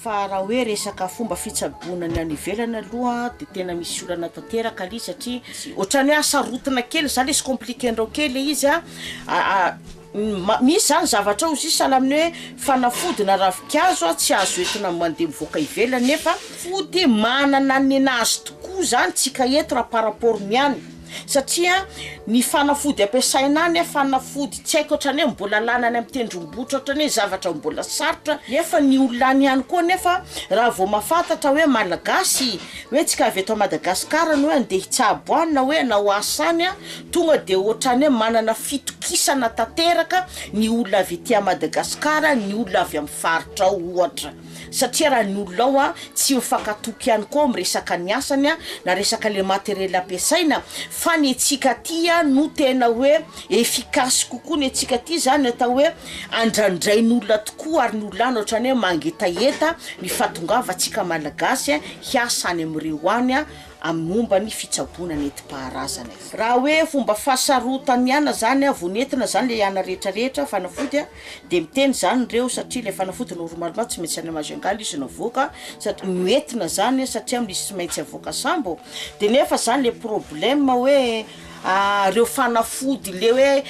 Fa raha hoe resaka fomba fitsaboana ny any ivelany aloha dia tena misy olana tanteraka le izy satria ohatran'ny hoe asarotina kely zany le izy compliquer-ndrao kely le izy misy zany zavatra ao izy io sahala amin'ny hoe fanafody na ravinkazo tsy azo entina mandeha mivoaka ivelany nefa fody manana ny nazy tokoa zany tsika eto raha par rapport ny any. Satria ny fanafody ampiasaina any fanafody tsy haiko otrany hoe mbola lany any amin'ny tendrombohitra otrany hoe zavatra mbola sarotra nefa ny olona any ihany koa nefa raha vao mahafantatra hoe malagasy hoe tsika avy eto Madagascar no hoe andeha hitsabo any na hoe hanao asa any ah tonga de otrany hoe manana fitokisana tanteraka ny olona avy ety Madagascar ny olona avy amin'ny faritra ao ohatra. Satria raha ny olona ao tsy ho fankatoky ihany koa amin'ny resaka ny asany na resaka ilay materiel ampiasaina fa ny antsika aty no tena hoe efficace kokoa ny antsika aty izany atao hoe andrandrain'olona tokoa ary ny olona any ohatrany hoe mangetaheta ny fahatongavantsika malagasy hiasa any amin'ireo any amin'ny momba ny fitsaboana nentim-paharazana. Raha hoe fomba fahasarotana ihany izany vao nentina izany ilay ana rehetra rehetra fanafody a! Dia miteny izany ireo satria ilay fanafody normalement tsy maintsy any Majungal izy no avoaka sady noentina izany satria misy tsy maintsy avoaka sambo dia nefa izany ilay problème hoe ireo fanafody ilay hoe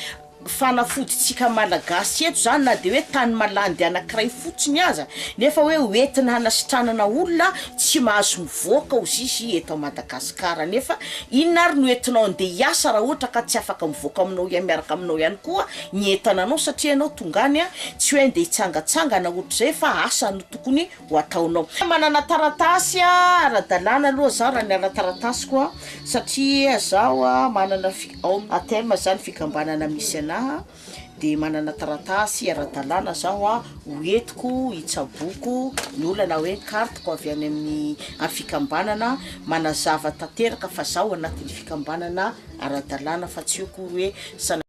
fanafodintsika malagasy eto izany na dia hoe tany malandy anankiray fotsiny aza nefa hoe hoentina hanasitranana olona tsy mahazo mivoaka hozy izy eto Madagascar nefa inona ary no entinao andeha hiasa raha ohatra ka tsy afaka mivoaka aminao miaraka aminao ihany koa ny entana anao satria ianao tonga any tsy hoe andeha hitsangatsangana ohatr'izay fa asa no tokony ho ataonao. Manana taratasy ara-dalàna aloha izaho raha ny ara-taratasiko a, satria izaho a manana fi- ao amin'ny ATM izany fikambanana misy anahy dia manana taratasy ara-dalàna izaho a ho entiko hitsaboako ny olana hoe carte-ko avy any amin'ny a fikambanana manazava tanteraka fa izaho anatin'ny fikambanana ara-dalàna fa tsy hoe ko hoe sanatria.